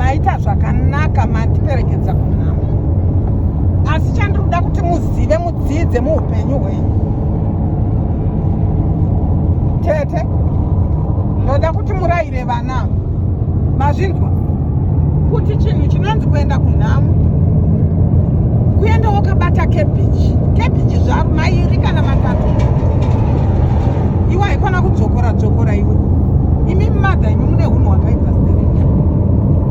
maita zvakanaka mandiperekedza kunhamo asi chandiri kuda kuti muzive mudzidze muupenyu hwenyu tete ndoda kuti murayire vana mazvinzwa kuti chinhu chinonzi kuenda kunhamo kuenda wakabata kebichi kebichi zvaro mairi kana matatu iwaiko Kana kudzokora dzokora iwe. Imi mother imi mune hunhu hwakaipa stereki.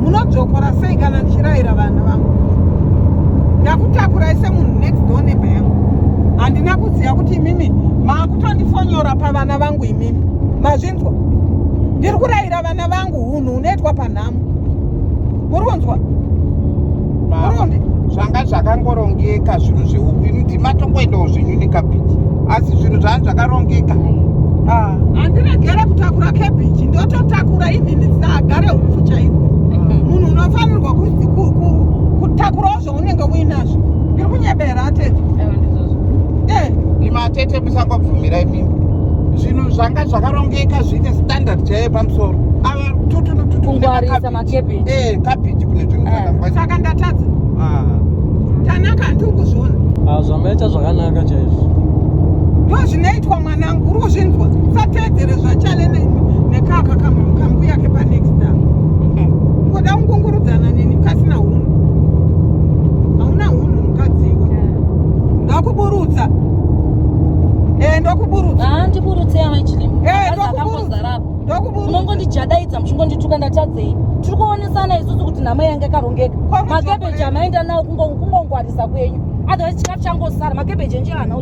Munodzokora sei kana ndichiraira vana vangu? Ndakutakurai semunhu next door neighbor yangu. Handina kuziva kuti imimi maakutondifonyora pavana vangu imimi. Mazvinzwa? Ndiri kuraira vana vangu. hunhu hunoitwa panhamo muri kunzwa zvanga zvakangorongieka zvinhu zveuku ini ndimatongoendawo zvinyu nekabhiti asi zvinhu zvanga zvakarongeka ah. handiregere kutakura kebhichi ndototakura even saagare upfu chaiko ah. munhu unofanirwa kutakurawo unenge uinazvo ndiri kunyebera atete eh. imi atete musangobvumira imimi zvinhu zvanga zvakarongeka zviine standard chaiye pamusoro ava tutunututungwarisa makebhiji ee eh, kabhiji kune zvinhu eh. zvakangwaisaka ndatadza ah. tanaka handiri kuzviona ah, zvamaita zvakanaka chaizvo ndo zvinoitwa Mwananguru uzvinzwa sateedzere zvachale nekaka kambu yake panext time. Ngoda kungungurudzana neni mkasina hunhu. Hauna hunhu mukadziwo. Ndakuburutsa. Eh ndokuburutsa. Ah ndiburutse yamai chilimu. Eh ndokuburutsa. Ndokuburutsa. Munongondijadaidza muchingondituka ndatadzei. Tiri kuonesana isusu kuti nhama yange yakarongeka. Makebeji amaenda nawo kungongwarisa kwenyu. Otherwise chikafu changosara makebeji enje ana